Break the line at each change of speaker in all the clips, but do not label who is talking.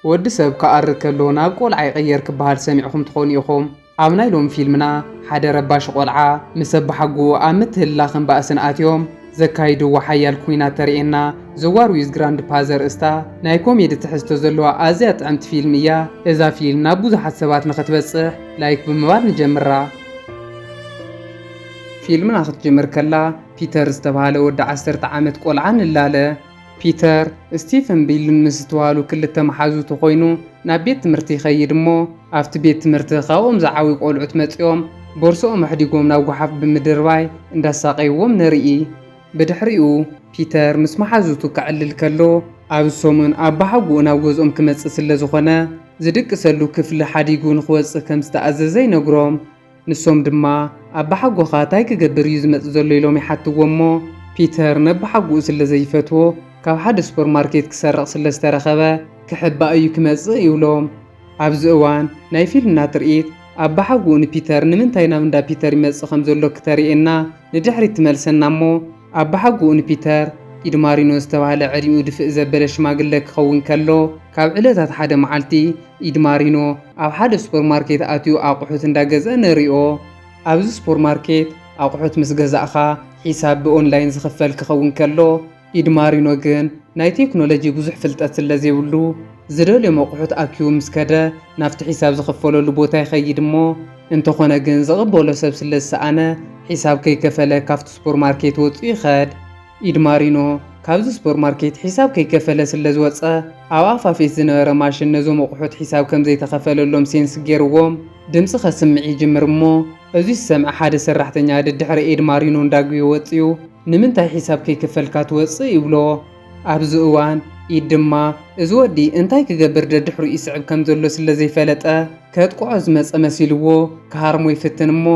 ወዲ ሰብ ክኣሪ ከሎ ናብ ቆልዓ ይቕየር ክበሃል ሰሚዕኹም ትኾኑ ኢኹም። ኣብ ናይ ሎሚ ፊልምና ሓደ ረባሺ ቆልዓ ምስ ኣባሓጎኡ ኣብ ምትህልላኽን ባእስን ኣትዮም ዘካይድዎ ሓያል ኲናት ተርእየና። ዘዋር ዊዝ ግራንድፓ ዘርእስታ ናይ ኮሜዲ ትሕዝቶ ዘለዋ ኣዝያ ጥዕምቲ ፊልም እያ። እዛ ፊልም ናብ ብዙሓት ሰባት ንኽትበጽሕ ላይክ ብምባል ንጀምራ። ፊልምና ክትጅምር ከላ ፒተር ዝተባህለ ወዲ ዓሰርተ ዓመት ቆልዓ ንላለ። ፒተር፣ ስቲፍን ቢልን ምስ ዝተባህሉ ክልተ መሓዙቱ ኮይኑ ናብ ቤት ትምህርቲ ይኸይድ እሞ ኣብቲ ቤት ትምህርቲ ካብኦም ዝዓብዩ ቆልዑት መጺኦም ቦርስኦም ኣሕዲጎም ናብ ጉሓፍ ብምድርባይ እንዳሳቐይዎም ንርኢ። ብድሕሪኡ ፒተር ምስ መሓዙቱ ከዕልል ከሎ ኣብ ሰሙን ኣባሓጉኡ ናብ ገዝኦም ክመጽእ ስለዝኾነ ዝድቅሰሉ ክፍሊ ሓዲጉ ንኽወጽእ ከምዝተኣዘዘ ይነግሮም። ንሶም ድማ ኣባሓጎኻ ታይ ክገብር እዩ ዝመጽእ ዘሎ ኢሎም ይሓትዎ እሞ ፒተር ነባሓጉኡ ስለ ዘይፈትዎ ካብ ሓደ ሱፐር ማርኬት ክሰርቕ ስለ ዝተረኸበ ክሕባእ እዩ ክመጽእ ይብሎም ኣብዚ እዋን ናይ ፊልምና ትርኢት ኣባሓጉኡ ንፒተር ንምንታይ ናብ እንዳ ፒተር ይመጽእ ከም ዘሎ ክተሪኤና ንድሕሪት ትመልሰና እሞ ኣባሓጎኡ ንፒተር ኢድማሪኖ ዝተባህለ ዕድሚኡ ድፍእ ዘበለ ሽማግለ ክኸውን ከሎ፣ ካብ ዕለታት ሓደ መዓልቲ፣ ኢድማሪኖ ኣብ ሓደ ሱፐርማርኬት ኣትዩ ኣቑሑት እንዳ ገዝአ ንሪኦ። ኣብዚ ሱፐርማርኬት ኣቑሑት ምስ ገዛእኻ ሒሳብ ብኦንላይን ዝኽፈል ክኸውን ከሎ፣ ኢድማሪኖ ግን ናይ ቴክኖሎጂ ብዙሕ ፍልጠት ስለ ዘይብሉ፣ ዝደልዮም ኣቑሑት ኣኪቡ ምስ ከደ ናብቲ ሒሳብ ዝኽፈለሉ ቦታ ይኸይድ እሞ፣ እንተኾነ ግን ዝቕበሎ ሰብ ስለ ዝሰኣነ ሒሳብ ከይከፈለ ካብቲ ሱፐርማርኬት ወጹ ይኸድ። ኢድ ማሪኖ ካብዚ ሱፐርማርኬት ሒሳብ ከይከፈለ ስለ ዝወጸ ኣብ ኣፋፌት ዝነበረ ማሽን ነዞም ኣቑሑት ሒሳብ ከም ዘይተኸፈለሎም ሴንስ ገይርዎም ድምጺ ከስምዕ ይጅምር እሞ እዚ ዝሰምዐ ሓደ ሰራሕተኛ ደድሕሪ ኤድ ማሪኖ እንዳጒየ ወጺኡ ንምንታይ ሒሳብ ከይከፈልካ ትወጽእ ይብሎ። ኣብዚ እዋን ኢድ ድማ እዚ ወዲ እንታይ ክገብር ደድሕሩ ይስዕብ ከም ዘሎ ስለ ዘይፈለጠ ከጥቅዖ ዝመጸ መሲልዎ ክሃርሞ ይፍትን እሞ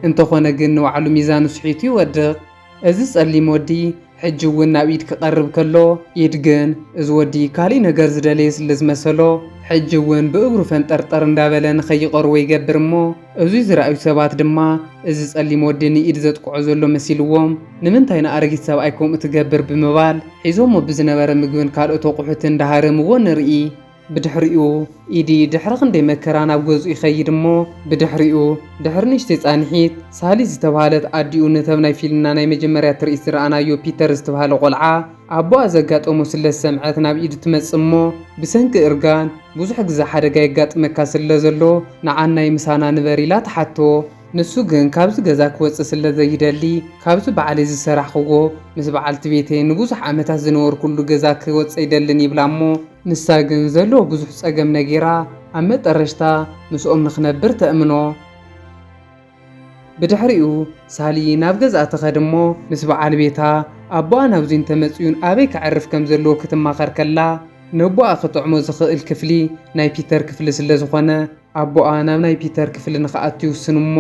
እንተኾነ ግን ንባዕሉ ሚዛኑ ስሒቱ ይወድቕ። እዚ ጸሊም ወዲ ሕጂ እውን ናብ ኢድ ክቐርብ ከሎ ኢድ ግን እዚ ወዲ ካሊእ ነገር ዝደለየ ስለ ዝመሰሎ ሕጂ እውን ብእግሩ ፈንጠርጠር እንዳበለ ንከይቐርቦ ይገብር እሞ እዙይ ዝረኣዩ ሰባት ድማ እዚ ጸሊም ወዲ ንኢድ ዘጥቅዖ ዘሎ መሲልዎም ንምንታይ ንኣረጊት ሰብኣይ ከምኡ ትገብር ብምባል ሒዞሞ ብዝነበረ ምግብን ካልኦት ኣቑሑትን እንዳሃረምዎ ንርኢ። ብድሕሪኡ ኢዲ ድሕሪ ክንደይ መከራ ናብ ገዝኡ ይኸይድ እሞ ብድሕሪኡ ድሕሪ ንእሽተይ ጻንሒት ሳሊ ዝተብሃለት ኣዲኡ ነተብ ናይ ፊልምና ናይ መጀመርያ ትርኢት ዝረኣናዮ ፒተር ዝትብሃለ ቆልዓ ኣቦኣ ዘጋጠሞ ስለ ዝሰምዐት ናብ ኢድ ትመጽእ እሞ ብሰንኪ እርጋን ብዙሕ ግዘ ሓደጋ የጋጥመካ ስለ ዘሎ ንዓን ናይ ምሳና ንበር ኢላ ትሓቶ። ንሱ ግን ካብዚ ገዛ ክወጽእ ስለ ዘይደሊ ካብዚ ባዕለይ ዝሰራሕክዎ ምስ በዓልቲ ቤተይ ንብዙሕ ዓመታት ዝነበርኩሉ ገዛ ክወጽእ ኣይደልን ይብላ እሞ ንሳ ግን ዘለዎ ብዙሕ ጸገም ነጊራ ኣብ መጠረሽታ ምስኦም ንክነብር ተእምኖ። ብድሕሪኡ ሳሊ ናብ ገዝኣ ትኸድ እሞ ምስ በዓል ቤታ ኣቦኣ ናብዚ እንተመጺኡን ኣበይ ከዕርፍ ከም ዘለዎ ክትማኸር ከላ ነቦኣ ክጥዕሞ ዝኽእል ክፍሊ ናይ ፒተር ክፍሊ ስለ ዝኾነ ኣቦኣ ናብ ናይ ፒተር ክፍሊ ንኽኣቱ ይውስን እሞ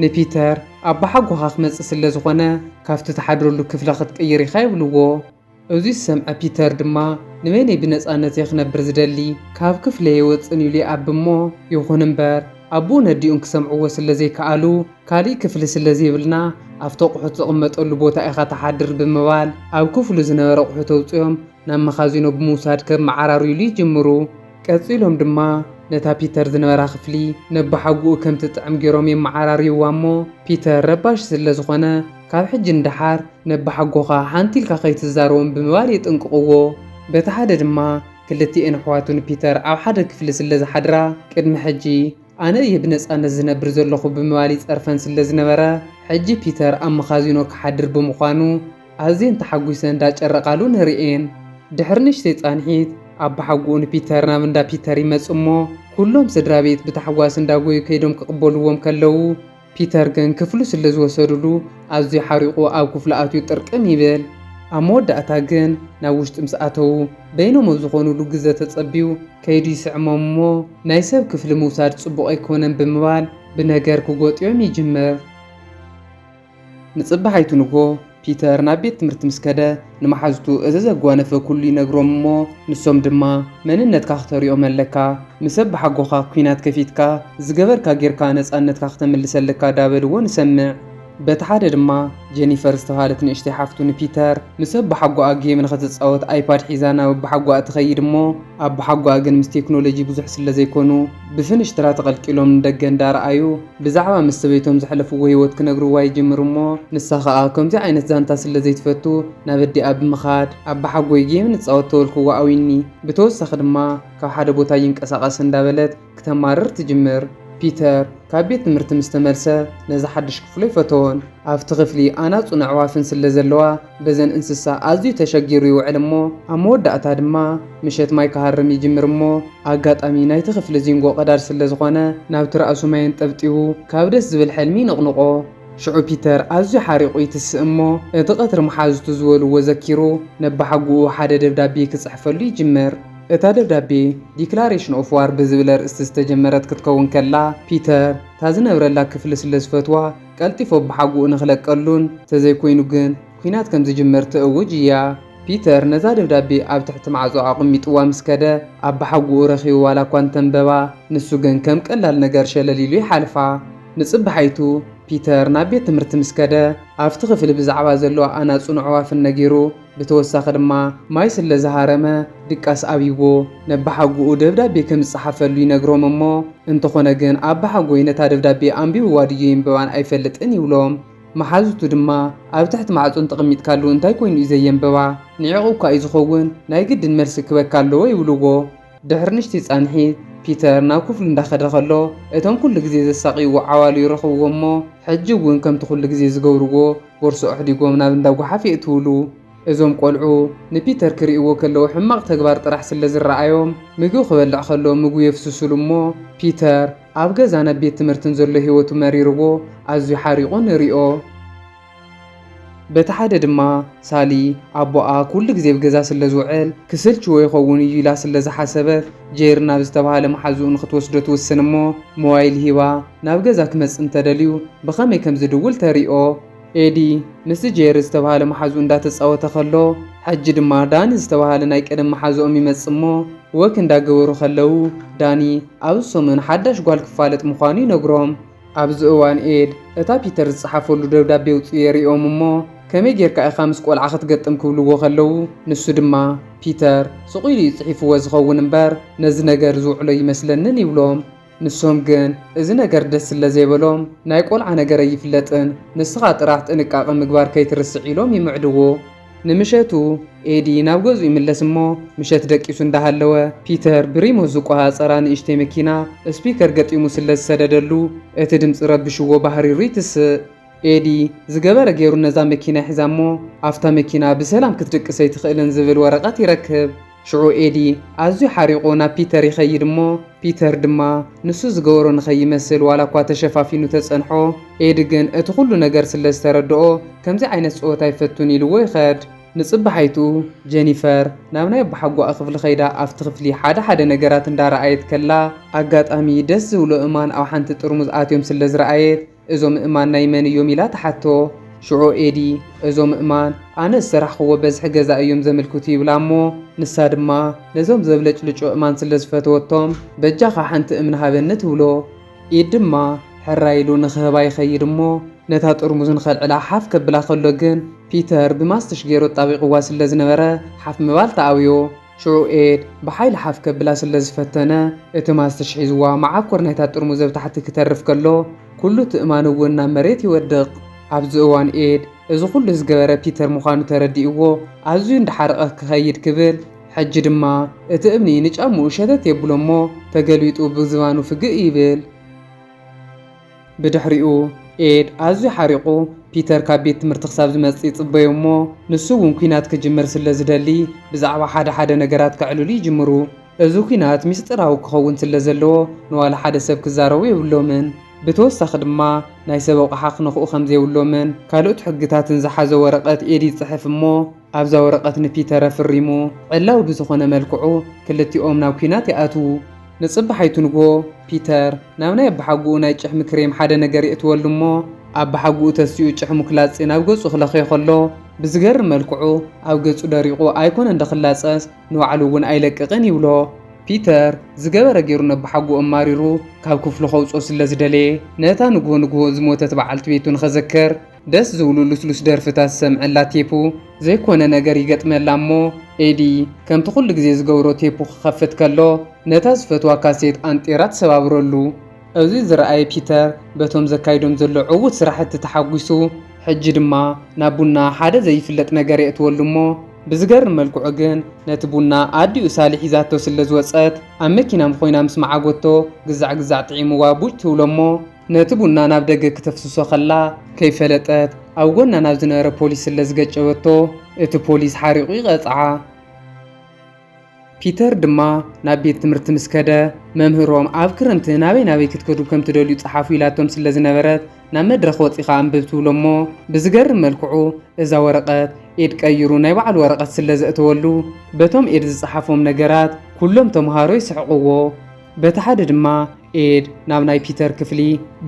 ንፒተር ኣቦሓጎኻ ክመጽእ ስለ ዝኾነ ካብቲ ትሓድረሉ ክፍሊ ክትቅይር ኢኻ ይብልዎ። እዙይ ዝሰምዐ ፒተር ድማ ንበይነይ ብነፃነት'የ ክነብር ዝደሊ፣ ካብ ክፍለይ ኣይወፅእን ኢሉ ይኣቢ እሞ ይኹን እምበር ኣቡኡን ኣዲኡን ክሰምዕዎ ስለ ዘይከኣሉ ካሊእ ክፍሊ ስለ ዘይብልና ኣብቲ ኣቑሑት ዝቕመጠሉ ቦታ ኢኻ ትሓድር ብምባል ኣብ ክፍሉ ዝነበረ ኣቑሑት ኣውፂኦም ናብ መኻዚኖ ብምውሳድ ከመዓራርዩሉ ይጅምሩ። ቀፂሎም ድማ ነታ ፒተር ዝነበራ ክፍሊ ነቦሓጎኡ ከም ትጥዕም ገይሮም የመዓራርዩዋ እሞ ፒተር ረባሺ ስለ ዝኾነ ካብ ሕጂ ንደሓር ነባሓጎኻ ሓንቲ ኢልካ ከይትዛረቦም ብምባል የጠንቅቕዎ። በቲ ሓደ ድማ ክልቲኤን ኣሕዋቱ ንፒተር ኣብ ሓደ ክፍሊ ስለ ዝሓድራ ቅድሚ ሕጂ ኣነ እየ ብነጻነት ዝነብር ዘለኹ ብምባል ይጸርፈን ስለ ዝነበረ ሕጂ ፒተር ኣብ መኻዚኖ ክሓድር ብምዃኑ ኣዝየን ተሓጒሰን ዳጨረቓሉ ንርእየን። ድሕሪ ንእሽተይ ጻንሒት ኣባሓጎኡ ንፒተር ናብ እንዳ ፒተር ይመጽእሞ ኩሎም ስድራቤት ብታሕጓስ እንዳጎዩ ከይዶም ክቕበልዎም ከለዉ፣ ፒተር ግን ክፍሉ ስለ ዝወሰዱሉ ኣዝዩ ሓሪቑ ኣብ ክፍሉ ኣትዩ ጥርቅም ይብል። ኣብ መወዳእታ ግን ናብ ውሽጢ ምስ ኣተዉ በይኖም ኣብ ዝኾኑሉ ግዘ ተፀብዩ ከይዱ ይስዕሞም እሞ ናይ ሰብ ክፍሊ ምውሳድ ፅቡቕ ኣይኮነን ብምባል ብነገር ክጎጥዮም ይጅምር። ንፅባሒቱ ንግሆ ፒተር ናብ ቤት ትምህርቲ ምስ ከደ፣ ንመሓዙቱ እዚ ዘጓነፈ ኩሉ ይነግሮም እሞ፣ ንሶም ድማ መንነትካ ክተርኦም ኣለካ፣ ምስ ኣባሓጎኻ ኩናት ከፊትካ፣ ዝገበርካ ጌርካ ነጻነትካ ክተምልስ ኣለካ ዳበልዎ ንሰምዕ። በቲ ሓደ ድማ ጀኒፈር ዝተባህለት ንእሽተይ ሓፍቱ ንፒተር፣ ምስ ኣባሓጎኣ ጌም ንኽትጻወት ኣይፓድ ሒዛ ናብ ኣባሓጎኣ ትኸይድ እሞ፣ ኣባሓጎኣ ግን ምስ ቴክኖሎጂ ብዙሕ ስለዘይኮኑ፣ ብፍንሽትራ ተቐልቂሎም ንደገ እንዳረኣዩ፣ ብዛዕባ ምስ ሰበይቶም ዘሕለፍዎ ህይወት ክነግርዋ ይጅምሩ እሞ ንሳ ከኣ ከምዚ ዓይነት ዛንታ ስለ ዘይትፈቱ ናብ ኣዲኣ ብምኻድ ኣባሓጎይ ጌም ንጻወት ተበልክዋ ኣውይኒ ብተወሳኺ ድማ ካብ ሓደ ቦታ ኣይንቀሳቀስ እንዳበለት ክተማርር ትጅምር ፒተር ካብ ቤት ትምህርቲ ምስ ተመልሰ ነዚ ሓድሽ ክፍሉ ኣይፈተዎን ኣብቲ ክፍሊ ኣናጹን ኣዕዋፍን ስለ ዘለዋ በዘን እንስሳ ኣዝዩ ተሸጊሩ ይውዕል እሞ ኣብ መወዳእታ ድማ ምሸት ማይ ክሃርም ይጅምር እሞ ኣጋጣሚ ናይቲ ክፍሊ ዚንጎ ቀዳድ ስለ ዝኾነ ናብቲ ራእሱ ማይ ኣንጠብጢቡ ካብ ደስ ዝብል ሕልሚ ይንቕንቖ። ሽዑ ፒተር ኣዝዩ ሓሪቑ ይትስእ እሞ እቲ ቀትሪ መሓዙቱ ዝበልዎ ዘኪሩ ነባሓጉኡ ሓደ ደብዳቤ ክጽሕፈሉ ይጅምር። እታ ደብዳቤ ዲክላሬሽን ኦፍ ዋር ብዝብል ኣርእስቲ ዝተጀመረት ክትከውን ከላ ፒተር እታ ዝነብረላ ክፍሊ ስለ ዝፈትዋ ቀልጢፉ ኣቦሓጎኡ ንኽለቀሉን፣ እንተዘይኮይኑ ግን ኲናት ከም ዝጅመር ተእውጅ እያ። ፒተር ነዛ ደብዳቤ ኣብ ትሕቲ ማዕጾ ኣቐሚጡዋ ምስ ከደ፣ ኣቦሓጎኡ ረኺቡ ዋላኳ እንተንበባ፣ ንሱ ግን ከም ቀላል ነገር ሸለል ኢሉ ይሓልፋ። ንጽባሓይቱ፣ ፒተር ናብ ቤት ትምህርቲ ምስ ከደ፣ ኣብቲ ክፍሊ ብዛዕባ ዘለዋ ኣናጹን ኣዕዋፍን ነጊሩ፣ ብተወሳኺ ድማ ማይ ስለ ዝሃረመ ድቃስ ኣብይዎ ነባሓጉኡ ደብዳቤ ከም ዝጸሓፈሉ ይነግሮም እሞ እንተኾነ ግን ኣባሓጎይ ነታ ደብዳቤ ኣንቢብዋ ድዩ የንብባን ኣይፈልጥን ይብሎም መሓዙቱ ድማ ኣብ ትሕቲ ማዕጾ እንተቐሚጥካሉ እንታይ ኮይኑ እዩ ዘየንብባ ንዒቑ እኳ እዩ ዝኸውን ናይ ግድን መልሲ ክበካ ኣለዎ ይብልዎ ድሕሪ ንሽቲ ጻንሒት ፒተር ናብ ክፍሉ እንዳኸደ ከሎ እቶም ኩሉ ግዜ ዘሳቕይዎ ዓዋሉ ይረኽብዎ እሞ ሕጂ እውን ከምቲ ኩሉ ግዜ ዝገብርዎ ቦርሶ ኣሕዲጎም ናብ እንዳ ጓሓፍ የእትውሉ። እዞም ቆልዑ ንፒተር ክርእይዎ ከለዉ ሕማቕ ተግባር ጥራሕ ስለ ዝረኣዮም ምግቢ ክበልዕ ከሎ ምግቡ የፍስሱሉ እሞ ፒተር ኣብ ገዛን ኣብ ቤት ትምህርትን ዘሎ ህይወቱ መሪርዎ ኣዝዩ ሓሪቑ ንሪኦ። በቲ ሓደ ድማ ሳሊ ኣቦኣ ኩሉ ግዜ ኣብ ገዛ ስለ ዝውዕል ክስልችዎ ይኸውን እዩ ኢላ ስለ ዝሓሰበት ጀይር ናብ ዝተባህለ መሓዝኡ ንኽትወስዶ ትውስን እሞ ሞባይል ሂባ ናብ ገዛ ክመጽእ እንተደልዩ ብኸመይ ከም ዝድውል ተርእዮ። ኤዲ ምስቲ ጀይር ዝተባህለ መሓዝኡ እንዳተጻወተ ከሎ ሕጂ ድማ ዳኒ ዝተባህለ ናይ ቀደም መሓዝኦም ይመጽእ እሞ ወክ እንዳገበሩ ከለው ዳኒ ኣብዚ ሰሙን ሓዳሽ ጓል ክፋለጥ ምዃኑ ይነግሮም። ኣብዚ እዋን ኤድ እታ ፒተር ዝጸሓፈሉ ደብዳቤ ኣውጺኡ የርእዮም እሞ ከመይ ጌርካ ኢኻ ምስ ቆልዓ ክትገጥም ክብልዎ ከለዉ ንሱ ድማ ፒተር ስቕ ኢሉ እዩ ጽሒፍዎ ዝኸውን እምበር ነዚ ነገር ዝውዕሎ ኣይመስለንን ይብሎም ንሶም ግን እዚ ነገር ደስ ስለ ዘይበሎም ናይ ቆልዓ ነገር ኣይፍለጥን ንስኻ ጥራሕ ጥንቃቐ ምግባር ከይትርስዕ ኢሎም ይምዕድዎ። ንምሸቱ ኤዲ ናብ ገዝኡ ይምለስ እሞ ምሸት ደቂሱ እንዳሃለወ ፒተር ብሪሞት ዝቆጻጸራ ንእሽተይ መኪና ስፒከር ገጢሙ ስለ ዝሰደደሉ እቲ ድምጺ ረብሽዎ ባህሪሩ ይትስእ። ኤዲ ዝገበረ ጌሩ ነዛ መኪና ይሕዛ እሞ ኣብታ መኪና ብሰላም ክትድቅስ ኣይትኽእልን ዝብል ወረቀት ይረክብ። ሽዑ ኤዲ ኣዝዩ ሓሪቑ ናብ ፒተር ይኸይድ እሞ ፒተር ድማ ንሱ ዝገበሮ ንኸይመስል ዋላ እኳ ተሸፋፊኑ ተጸንሖ ኤዲ ግን እቲ ኩሉ ነገር ስለ ዝተረድኦ ከምዚ ዓይነት ጸወታ ኣይፈቱን ኢልዎ ይኸድ። ንጽባሓይትኡ ጀኒፈር ናብ ናይ ኣቦሓጎኣ ክፍሊ ከይዳ ኣብቲ ክፍሊ ሓደ ሓደ ነገራት እንዳ ረኣየት ከላ ኣጋጣሚ ደስ ዝብሎ እማን ኣብ ሓንቲ ጥርሙዝ ኣትዮም ስለ ዝረኣየት እዞም እማን ናይ መን እዮም ኢላ ትሓቶ። ሽዑ ኤዲ እዞም እማን ኣነ ዝሰራሕኽዎ በዝሒ ገዛ እዮም ዘምልክቱ ይብላ እሞ ንሳ ድማ ነዞም ዘብለጭልጩ እማን ስለ ዝፈተወቶም በጃኻ ሓንቲ እምኒ ሃበኒ ትብሎ። ኤዲ ድማ ሕራይ ኢሉ ንኽህባ ይኸይድ እሞ ነታ ጥርሙዝ ንኸልዕላ ሓፍ ከብላ ከሎ ግን ፒተር ብማስትሽ ገይሩ ኣጣቢቕዋ ስለ ዝነበረ ሓፍ ምባል ተኣብዮ። ሽዑ ኤድ ብሓይሊ ሓፍ ከብላ ስለ ዝፈተነ፣ እቲ ማስትሽ ሒዝዋ መዓኮር ናይታ ጥርሙዝ ኣብ ታሕቲ ክተርፍ ከሎ፣ ኩሉ እቲ እማን እውን ናብ መሬት ይወድቕ። ኣብዚ እዋን ኤድ እዚ ኩሉ ዝገበረ ፒተር ምዃኑ ተረዲእዎ ኣዝዩ እንዳሓረቐ ክኸይድ ክብል፣ ሕጂ ድማ እቲ እምኒ ንጫምኡ ሸተት የብሎ'ሞ ተገልቢጡ ብዝባኑ ፍግእ ይብል። ብድሕሪኡ፣ ኤድ ኣዝዩ ሓሪቑ ፒተር ካብ ቤት ትምህርቲ ክሳብ ዝመጽእ ይጽበዮ እሞ ንሱ እውን ኲናት ክጅምር ስለ ዝደሊ ብዛዕባ ሓደ ሓደ ነገራት ከዕልሉ ይጅምሩ። እዚ ኲናት ምስጢራዊ ክኸውን ስለ ዘለዎ ንዋላ ሓደ ሰብ ክዛረቦ የብሎምን። ብተወሳኺ ድማ ናይ ሰብ ኣቑሓ ክነኽኡ ከም ዘይብሎምን ካልኦት ሕግታትን ዝሓዘ ወረቐት ኤድ ይጽሕፍ እሞ፣ ኣብዛ ወረቐት ንፒተር ኣፍሪሙ ዕላዊ ብዝኾነ መልክዑ ክልቲኦም ናብ ኲናት ይኣትዉ። ንጽባሓይቱ ንግሆ ፒተር ናብ ናይ ኣባሓጉኡ ናይ ጭሕሚ ክሬም ሓደ ነገር የእትወሉ እሞ ኣባሓጉኡ ተሲኡ ጭሕሙ ክላጺ ናብ ገጹ ክለኽዮ ከሎ ብዝገርም መልክዑ ኣብ ገጹ ደሪቑ ኣይኮነን ዶ ክላጸስ ንባዕሉ እውን ኣይለቅቕን ይብሎ። ፒተር ዝገበረ ገይሩ ነባሓጉኡ ኣማሪሩ ካብ ክፍሉ ከውጽኦ ስለዝደለየ ነታ ንግሆ ንግሆ ዝሞተት በዓልቲ ቤቱ ንኸዘክር ደስ ዝብሉ ልስሉስ ደርፍታት ዝሰምዐላ ቴፑ ዘይኮነ ነገር ይገጥመላ እሞ ኤዲ ከምቲ ኩሉ ግዜ ዝገብሮ ቴፑ ክኸፍት ከሎ ነታ ዝፈትዋ ካሴት ኣንጢራ ትሰባብረሉ። እዚ ዝረኣየ ፒተር በቶም ዘካይዶም ዘሎ ዕዉት ስራሕቲ ተሓጒሱ ሕጂ ድማ ናብ ቡና ሓደ ዘይፍለጥ ነገር የእትወሉ እሞ ብዝገርም መልክዑ ግን ነቲ ቡና ኣዲኡ ሳሊ ሒዛቶ ስለ ዝወጸት ኣብ መኪና ምኾይና ምስ መዓጎቶ ግዛዕ ግዛዕ ጥዒምዋ ቡጭ ትብሎ እሞ ነቲ ቡና ናብ ደገ ክተፍስሶ ከላ ከይፈለጠት ኣብ ጎና ናብ ዝነበረ ፖሊስ ስለ ዝገጨበቶ እቲ ፖሊስ ሓሪቑ ይቐጽዓ። ፒተር ድማ ናብ ቤት ትምህርቲ ምስ ከደ መምህሮም ኣብ ክረምቲ ናበይ ናበይ ክትከዱ ከም ትደልዩ ጸሓፉ ኢላቶም ስለ ዝነበረት ናብ መድረኽ ወጺኻ ኣንብብ ትብሎ'ሞ ብዝገርም መልክዑ እዛ ወረቐት ኤድ ቀይሩ ናይ ባዕሉ ወረቐት ስለ ዘእተወሉ በቶም ኤድ ዝጸሓፎም ነገራት ኩሎም ተመሃሮ ይስሕቕዎ በቲ ሓደ ድማ ኤድ ናብ ናይ ፒተር ክፍሊ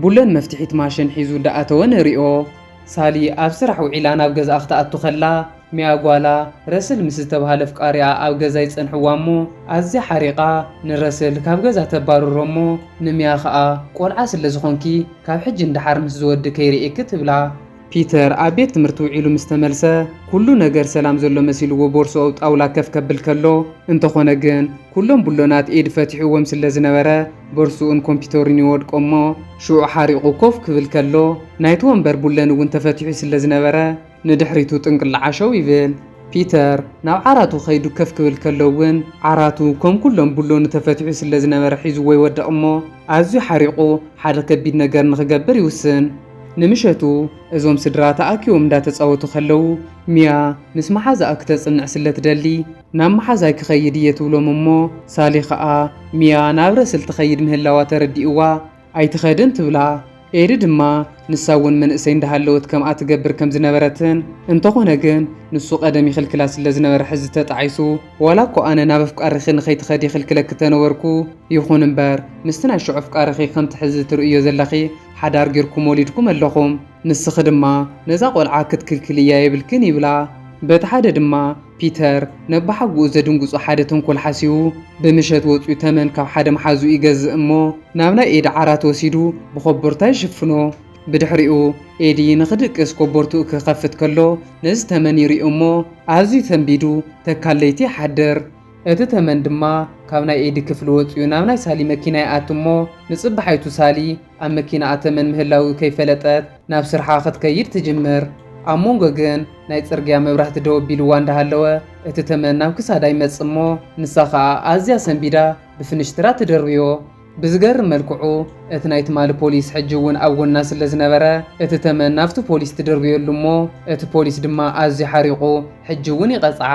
ቡለን መፍትሒት ማሽን ሒዙ እንዳኣተወ ንሪኦ። ሳሊ ኣብ ስራሕ ውዒላ ናብ ገዝኣ ክትኣቱ ከላ ሚያ ጓላ ረስል ምስ ዝተብሃለ ኣፍቃሪኣ ኣብ ገዛ ይጸንሕዋ እሞ ኣዝያ ሓሪቓ ንረስል ካብ ገዛ ተባርሮ እሞ ንሚያ ከኣ ቆልዓ ስለ ዝኾንኪ ካብ ሕጂ ንደሓር ምስዚ ወዲ ከይርእየኪ ትብላ። ፒተር ኣብ ቤት ትምህርቲ ውዒሉ ምስ ተመልሰ፣ ኩሉ ነገር ሰላም ዘሎ መሲልዎ ቦርሳኡ ኣብ ጣውላ ከፍ ከብል ከሎ፣ እንተኾነ ግን ኩሎም ቡሎናት ኤዲ ፈቲሕዎም ስለ ዝነበረ ቦርሱኡን ኮምፒተሩን ይወድቆ እሞ ሽዑ ሓሪቑ ኮፍ ክብል ከሎ ናይቲ ወንበር ቡለን እውን ተፈቲሑ ስለ ዝነበረ ንድሕሪቱ ጥንቅል ዓሸው ይብል። ፒተር ናብ ዓራቱ ከይዱ ከፍ ክብል ከሎ እውን ዓራቱ ከም ኩሎም ቡሎኑ ተፈቲሑ ስለ ዝነበረ ሒዝዎ ይወድቕ እሞ ኣዝዩ ሓሪቑ ሓደ ከቢድ ነገር ንኽገብር ይውስን። ንምሸቱ እዞም ስድራ ተኣኪቦም እንዳተጻወቱ ከለዉ ሚያ ምስ መሓዛኣ ክተጽንዕ ስለ ትደሊ ናብ መሓዛይ ክኸይድ እየ ትብሎም እሞ ሳሊ ከኣ ሚያ ናብ ረስል ትኸይድ ምህላዋ ተረዲእዋ ኣይትኸድን ትብላ ኤሪ ድማ ንሳ እውን መንእሰይ እንዳሃለወት ከምኣ ትገብር ከም ዝነበረትን እንተኾነ ግን ንሱ ቀደም ይኽልክላ ስለ ዝነበረ ሕዚ ተጣዒሱ ዋላ እኮ ኣነ ናብ ኣፍቃሪኺ ንኸይትኸዲ ይኽልክለኪ ተነበርኩ ይኹን እምበር ምስቲ ናይ ሽዑ ኣፍቃሪኺ ከምቲ ሕዚ ትርእዮ ዘለኺ ሓዳር ጌርኩም ወሊድኩም ኣለኹም፣ ንስኺ ድማ ነዛ ቈልዓ ክትክልክልያ የብልክን ይብላ። በቲ ሓደ ድማ ፒተር ነባሓጎኡ ዘድንግጹ ሓደ ተንኮል ሓሲቡ ብምሸት ወጺኡ ተመን ካብ ሓደ መሓዝኡ ይገዝእ እሞ ናብ ናይ ኤዲ ዓራት ወሲዱ ብኮቦርታ ይሽፍኖ። ብድሕሪኡ ኤዲ ንኽድቅስ ኮቦርትኡ ክኸፍት ከሎ ነዚ ተመን ይሪኦ እሞ ኣዝዩ ሰንቢዱ ተካል ለይቲ ይሓድር። እቲ ተመን ድማ ካብ ናይ ኤዲ ክፍሊ ወጺኡ ናብ ናይ ሳሊ መኪና ይኣቲ እሞ ንጽባሓይቱ ሳሊ ኣብ መኪናኣ ተመን ምህላዉ ከይፈለጠት ናብ ስርሓ ክትከይድ ትጅምር። ኣብ ሞንጎ ግን ናይ ጽርግያ መብራህቲ ደው ኣቢልዋ እንዳሃለወ እቲ ተመን ናብ ክሳዳ ይመጽእ እሞ ንሳ ከኣ ኣዝያ ሰንቢዳ ብፍንሽትራ ትድርብዮ። ብዝገርም መልክዑ እቲ ናይ ትማሊ ፖሊስ ሕጂ እውን ኣብ ጎና ስለ ዝነበረ እቲ ተመን ናብቲ ፖሊስ ትድርብየሉ እሞ እቲ ፖሊስ ድማ ኣዝዩ ሓሪቑ ሕጂ እውን ይቐጽዓ።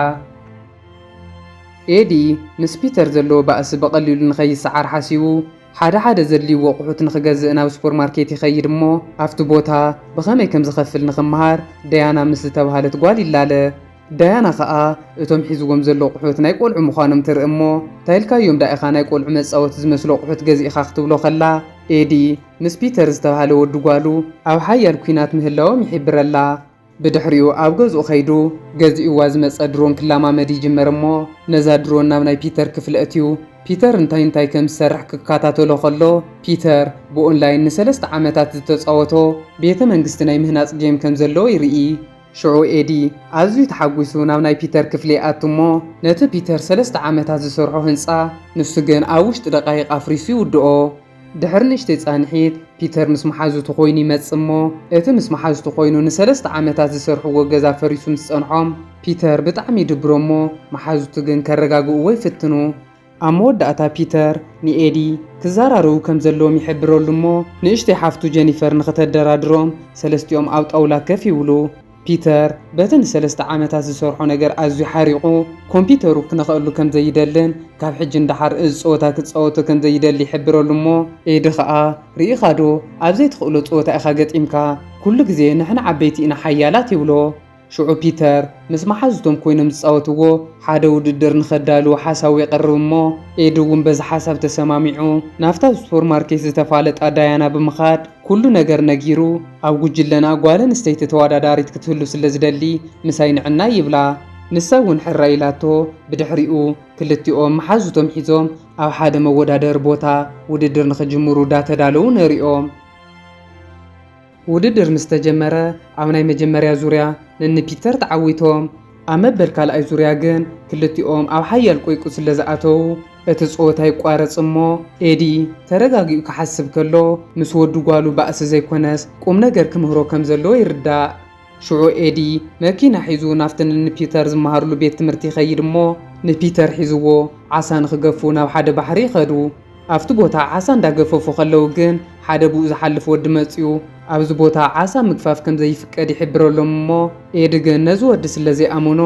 ኤዲ ምስ ፒተር ዘለዎ ባእሲ ብቐሊሉ ንኸይሰዓር ሓሲቡ፣ ሓደ ሓደ ዘድልይዎ ኣቑሑት ንኽገዝእ ናብ ሱፐርማርኬት ይኸይድ እሞ ኣብቲ ቦታ ብኸመይ ከም ዝኸፍል ንኽመሃር ዳያና ምስ ዝተብሃለት ጓል ይላለ። ዳያና ከኣ እቶም ሒዝዎም ዘሎ ኣቑሑት ናይ ቈልዑ ምዃኖም ትርኢ እሞ እንታይ ኢልካዮም ደኣ ኢኻ ናይ ቈልዑ መጻወቲ ዝመስሉ ኣቑሑት ገዚእኻ ክትብሎ ከላ ኤዲ ምስ ፒተር ዝተብሃለ ወዲ ጓሉ ኣብ ሓያል ኲናት ምህላዎም ይሒብረላ። ብድሕሪኡ ኣብ ገዝኡ ከይዱ ገዚኡዋ ዝመጸ ድሮን ክላማመድ ይጅመር እሞ ነዛ ድሮን ናብ ናይ ፒተር ክፍሊ ኣትዩ ፒተር እንታይ እንታይ ከም ዝሰርሕ ክካታተሎ ከሎ ፒተር ብኦንላይን ንሰለስተ ዓመታት ዝተጻወቶ ቤተ መንግስቲ ናይ ምህናጽ ጌም ከም ዘለዎ ይርኢ። ሽዑ ኤዲ ኣዝዩ ተሓጒሱ ናብ ናይ ፒተር ክፍሊ ይኣቱ እሞ ነቲ ፒተር ሰለስተ ዓመታት ዝሰርሖ ህንጻ ንሱ ግን ኣብ ውሽጢ ደቓይቕ ኣፍሪሱ ይውድኦ። ድሕሪ ንእሽተይ ጻንሒት፣ ፒተር ምስ መሓዙቱ ዀይኑ ይመጽእ እሞ፣ እቲ ምስ መሓዙቱ ዀይኑ ንሰለስተ ዓመታት ዚሰርሕዎ ገዛ ፈሪሱ ምስ ጸንሖም፣ ፒተር ብጣዕሚ ይድብሮ እሞ፣ መሓዙቱ ግን ኬረጋግእዎ ይፍትኑ። ኣብ መወዳእታ ፒተር ንኤዲ፣ ኪዘራረቡ ከም ዘለዎም ይሕብረሉ እሞ፣ ንእሽተይ ሓፍቱ ጀኒፈር ንኽተደራድሮም፣ ሰለስቲኦም ኣብ ጣውላ ከፍ ይብሉ። ፒተር በቲ ንሰለስተ ዓመታት ዝሰርሖ ነገር ኣዝዩ ሓሪቑ፣ ኮምፒዩተሩ ክነኽኣሉ ከም ዘይደልን ካብ ሕጂ ንደሓር እዚ ጸወታ ክጻወቶ ከም ዘይደሊ ይሕብረሉ እሞ፣ ኤዲ ኸኣ ርኢኻዶ ኣብ ዘይትኽእሎ ጸወታ ኢኻ ገጢምካ፣ ኩሉ ግዜ ንሕና ዓበይቲ ኢና ሓያላት ይብሎ። ሽዑ ፒተር ምስ መሓዙቶም ኰይኖም ዝጻወትዎ ሓደ ውድድር ንኸዳልዉ ሓሳቡ የቕርብ እሞ፣ ኤዲ እውን በዚ ሓሳብ ተሰማሚዑ ናብታ ኣብ ሱፐርማርኬት ዝተፋለጣ ዳያና ብምኻድ ኩሉ ነገር ነጊሩ፣ ኣብ ጉጅለና ጓል ኣንስተይቲ ተወዳዳሪት ክትህሉ ስለ ዝደሊ ምሳይ ንዕናይ ይብላ። ንሳ እውን ሕራይ ኢላቶ ብድሕሪኡ ክልቲኦም መሓዙቶም ሒዞም ኣብ ሓደ መወዳደሪ ቦታ ውድድር ንኽጅምሩ ዳተዳለዉ ነሪኦም። ውድድር ምስ ተጀመረ ኣብ ናይ መጀመርያ ዙርያ ነኒ ፒተር ተዓዊቶም። ኣብ መበል ካልኣይ ዙርያ ግን ክልቲኦም ኣብ ሓያል ቈይቍ ስለ ዝኣተዉ እቲ ጸወታ ይቋረጽ እሞ ኤዲ ተረጋጊኡ ክሓስብ ከሎ ምስ ወዱ ጓሉ ባእሲ ዘይኮነስ ቁምነገር ክምህሮ ከም ዘለዎ ይርዳእ። ሽዑ ኤዲ መኪና ሒዙ ናብቲ ንንፒተር ዝመሃርሉ ቤት ትምህርቲ ይኸይድ እሞ ንፒተር ሒዝዎ ዓሳ ንኽገፉ ናብ ሓደ ባሕሪ ይኸዱ። ኣብቲ ቦታ ዓሳ እንዳገፈፉ ከለዉ ግን ሓደ ብኡ ዝሓልፍ ወዲ መጺኡ ኣብዚ ቦታ ዓሳ ምግፋፍ ከም ዘይፍቀድ ይሕብረሎም እሞ ኤዲ ግን ነዚ ወዲ ስለ ዘይኣመኖ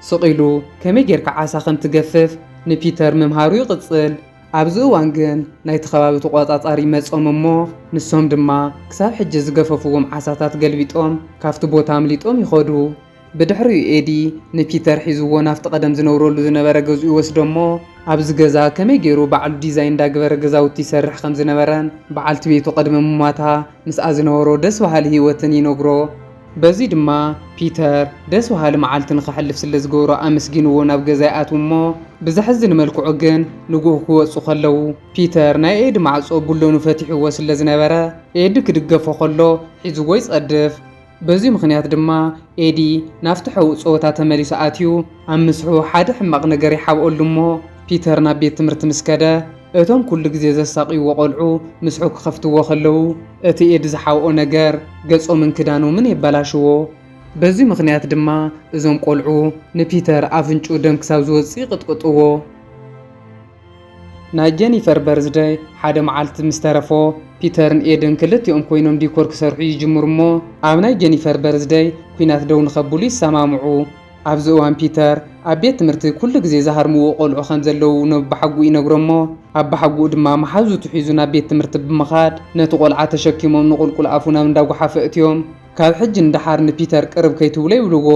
ስቕ ኢሉ ከመይ ጌርካ ዓሳ ከም ትገፍፍ ንፒተር ምምሃሩ ይቕጽል። ኣብዚ እዋን ግን ናይቲ ከባቢ ተቖጻጻሪ መጾም እሞ ንሶም ድማ ክሳብ ሕጂ ዝገፈፍዎም ዓሳታት ገልቢጦም ካብቲ ቦታ ኣምሊጦም ይኸዱ። ብድሕሪኡ ኤዲ ንፒተር ሒዝዎ ናብቲ ቀደም ዝነብረሉ ዝነበረ ገዝኡ ይወስዶ እሞ ኣብዚ ገዛ ከመይ ገይሩ ባዕሉ ዲዛይን እንዳግበረ ገዛውቲ ይሰርሕ ከም ዝነበረን በዓልቲ ቤቱ ቅድሚ ምሟታ ምስኣ ዝነበሮ ደስ በሃሊ ህይወትን ይነግሮ። በዚ ድማ ፒተር ደስ በሃሊ መዓልቲ ንከሕልፍ ስለ ዝገበሮ ኣመስጊንዎ ናብ ገዛ ይኣትዉ እሞ ብዘሕዝን መልክዑ ግን ንግሆ ክወጹ ከለዉ ፒተር ናይ ኤዲ ማዕጾ ቡለኑ ፈቲሕዎ ስለ ዝነበረ ኤዲ ክድገፎ ከሎ ሒዝዎ ይጸድፍ። በዚ ምኽንያት ድማ ኤዲ ናብቲ ሕቡእ ጸወታ ተመሊሱ ኣትዩ፣ ኣብ ምስሕኡ ሓደ ሕማቕ ነገር ይሓብኦሉ እሞ ፒተር ናብ ቤት ትምህርቲ ምስ ከደ፣ እቶም ኩሉ ግዜ ዘሳቕይዎ ቆልዑ ምስሕኡ ክኸፍትዎ ከለዉ፣ እቲ ኤዲ ዝሓብኦ ነገር ገጾምን ክዳኖምን የበላሽዎ። በዚ ምኽንያት ድማ እዞም ቆልዑ ንፒተር ኣፍንጭኡ ደም ክሳብ ዝወጽእ ይቕጥቅጥዎ። ናይ ጀኒፈር በርዝደይ ሓደ መዓልቲ ምስ ተረፎ፣ ፒተርን ኤድን ክልቲኦም ኰይኖም ዲኮር ክሰርሑ ይጅምሩ እሞ ኣብ ናይ ጀኒፈር በርዝደይ ኲናት ደው ንኸብሉ ይሰማምዑ። ኣብዚ እዋን ፒተር ኣብ ቤት ትምህርቲ ኩሉ ግዜ ዝሃርምዎ ቈልዑ ከም ዘለዉ ነቦሓጉኡ ይነግሮ እሞ ኣቦሓጉኡ ድማ መሓዙቱ ሒዙ ናብ ቤት ትምህርቲ ብምኻድ ነቲ ቈልዓ ተሸኪሞም ንቑልቁል ኣፉ ናብ እንዳ ጐሓፍ ኣእትዮም ካብ ሕጂ ንደሓር ንፒተር ቅርብ ከይትብሎ ይብልዎ።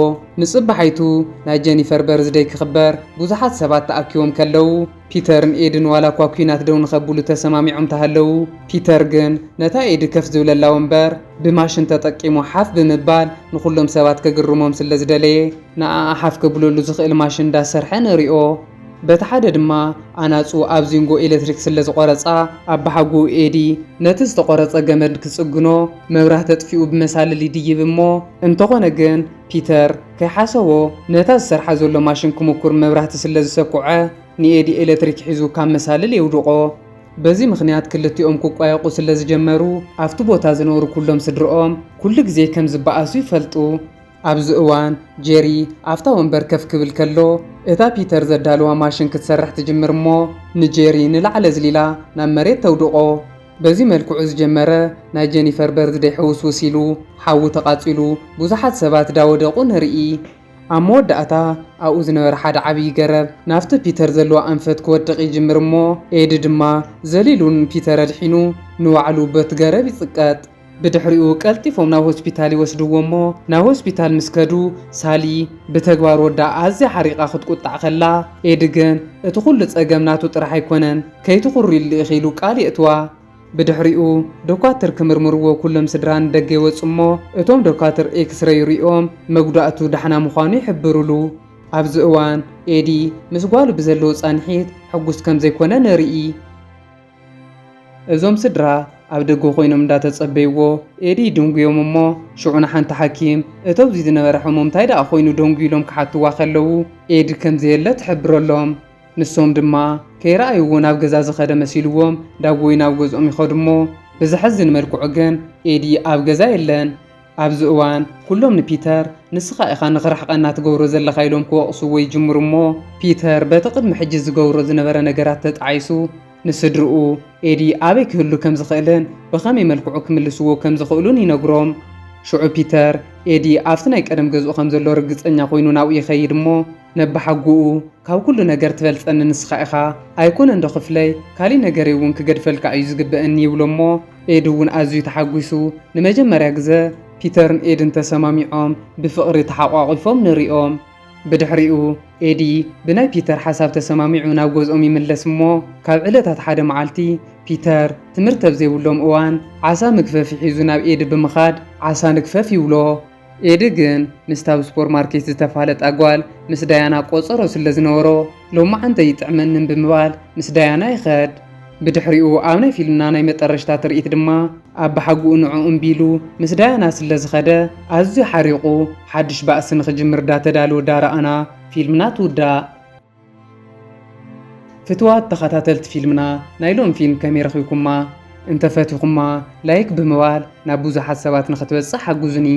ንጽባሓይቱ ናይ ጀኒፈር በርዝደይ ክኽበር ብዙሓት ሰባት ተኣኪቦም ከለዉ፣ ፒተርን ኤድን ዋላኳ ኲናት ደው ንኸብሉ ተሰማሚዖም ተሃለዉ፣ ፒተር ግን ነታ ኤዲ ከፍ ዝብለላ ወንበር ብማሽን ተጠቂሙ ሓፍ ብምባል ንኹሎም ሰባት ከግርሞም ስለዝደለየ፣ ንኣኣ ሓፍ ከብለሉ ዝኽእል ማሽን እንዳሰርሐ ንሪኦ። በቲ ሓደ ድማ ኣናጹ ኣብ ዚንጎ ኤለትሪክ ስለ ዝቖረጻ ኣባሓጉኡ ኤዲ ነቲ ዝተቖረጸ ገመድ ክጽግኖ መብራህቲ ኣጥፊኡ ብመሳልል ይድይብ እሞ እንተኾነ ግን ፒተር ከይሓሰቦ ነታ ዝሰርሓ ዘሎ ማሽን ክሙኩር መብራህቲ ስለ ዝሰኩዐ ንኤዲ ኤለትሪክ ሒዙ ካብ መሳልል የውድቖ። በዚ ምኽንያት ክልቲኦም ክቋየቑ ስለ ዝጀመሩ ኣብቲ ቦታ ዝነብሩ ኩሎም ስድርኦም ኩሉ ግዜ ከም ዝበኣሱ ይፈልጡ። ኣብዚ እዋን ጄሪ ኣብታ ወንበር ከፍ ክብል ከሎ፣ እታ ፒተር ዘዳልዋ ማሽን ክትሰርሕ ትጅምር እሞ ንጄሪ ንላዕሊ ኣዝሊላ ናብ መሬት ተውድቖ። በዚ መልክዑ ዝጀመረ ናይ ጀኒፈር በርዝደይ ሕውስውስ ኢሉ ሓዊ ተቓጺሉ ብዙሓት ሰባት ዳወደቑ ንርኢ። ኣብ መወዳእታ ኣብኡ ዝነበረ ሓደ ዓብዪ ገረብ ናብቲ ፒተር ዘለዎ ኣንፈት ክወድቕ ይጅምር እሞ ኤዲ ድማ ዘሊሉ ንፒተር ኣድሒኑ ንባዕሉ በቲ ገረብ ይጽቀጥ። ብድሕሪኡ ቀልጢፎም ናብ ሆስፒታል ይወስድዎ እሞ ናብ ሆስፒታል ምስ ከዱ ሳሊ ብተግባር ወዳ ኣዝያ ሓሪቓ ክትቁጣዕ ከላ ኤዲ ግን እቲ ኩሉ ጸገም ናቱ ጥራሕ ኣይኮነን ከይትኹርይሉ ኢኺ ኢሉ ቃል የእትዋ። ብድሕሪኡ ዶኳትር ክምርምርዎ ኩሎም ስድራ ንደገ ይወጹ እሞ እቶም ዶኳትር ኤክስረይ ርእዮም መጉዳእቱ ዳሕና ምዃኑ ይሕብርሉ። ኣብዚ እዋን ኤዲ ምስ ጓሉ ብዘለዎ ጻንሒት ሕጉስ ከምዘይኮነ ንርኢ። እዞም ስድራ ኣብ ደገ ኮይኖም እንዳተጸበይዎ ኤዲ ይድንጉዮም እሞ ሽዑ ንሓንቲ ሓኪም እቶብዚ ዝነበረ ሕሙም ታይ ደኣ ኮይኑ ደንጉዩ ኢሎም ክሓትዋ ከለዉ ኤዲ ከምዘየለ ትሕብረሎም ንሶም ድማ ከይረኣይዎ ናብ ገዛ ዝኸደ መሲልዎም ዳግወይ ናብ ገዝኦም ይኸዱሞ ብዘሕዝን መልክዑ ግን ኤዲ ኣብ ገዛ የለን ኣብዚ እዋን ኩሎም ንፒተር ንስኻ ኢኻ ንኽርሕቐና ትገብሮ ዘለኻ ኢሎም ክወቕስዎ ይጅምሩ እሞ ፒተር በቲ ቅድሚ ሕጂ ዝገብሮ ዝነበረ ነገራት ተጣዒሱ ንስድርኡ ኤዲ ኣበይ ክህሉ ከም ዝኽእልን ብኸመይ መልክዑ ክምልስዎ ከም ዝኽእሉን ይነግሮም። ሽዑ ፒተር ኤዲ ኣብቲ ናይ ቀደም ገዝኡ ከም ዘሎ ርግጸኛ ኮይኑ ናብኡ ይኸይድ እሞ ነባሓጎኡ ካብ ኩሉ ነገር ትበልጸኒ ንስኻ ኢኻ ኣይኮነንዶ ክፍለይ ካሊእ ነገረይ እውን ክገድፈልካ እዩ ዝግበእኒ ይብሎ እሞ ኤድ እውን ኣዝዩ ተሓጒሱ። ንመጀመርያ ግዘ ፒተርን ኤድን ተሰማሚዖም ብፍቕሪ ተሓቋቊፎም ንሪኦም። ብድሕሪኡ ኤዲ ብናይ ፒተር ሓሳብ ተሰማሚዑ ናብ ገዝኦም ይምለስ እሞ ካብ ዕለታት ሓደ መዓልቲ ፒተር ትምህርቲ ኣብ ዘይብሎም እዋን ዓሳ ምግፈፊ ሒዙ ናብ ኤዲ ብምኻድ ዓሳ ንግፈፍ ይብሎ። ኤዲ ግን ምስታ ኣብ ሱፐርማርኬት ዝተፋለጣ ጓል ምስ ዳያና ቆጸሮ ስለ ዝነበሮ፣ ሎማዓንቲ ኣይጥዕመንን ብምባል ምስ ዳያና ይኸድ። ብድሕሪኡ ኣብ ናይ ፊልምና ናይ መጠረሽታ ትርኢት ድማ ኣባሓጉኡ ንዕኡ እምቢ ኢሉ ምስ ዳያና ስለ ዝኸደ ኣዝዩ ሓሪቑ ሓድሽ ባእሲ ንኽጅምር ዳተዳልወ ዳረኣና ፊልምና ትውዳእ። ፍትዋት ተኻታተልቲ ፊልምና ናይ ሎም ፊልም ከመይ ረኺብኩማ እንተ ፈቲኹማ ላይክ ብምባል ናብ ብዙሓት ሰባት ንኽትበጽሕ ሓጉዙኒ።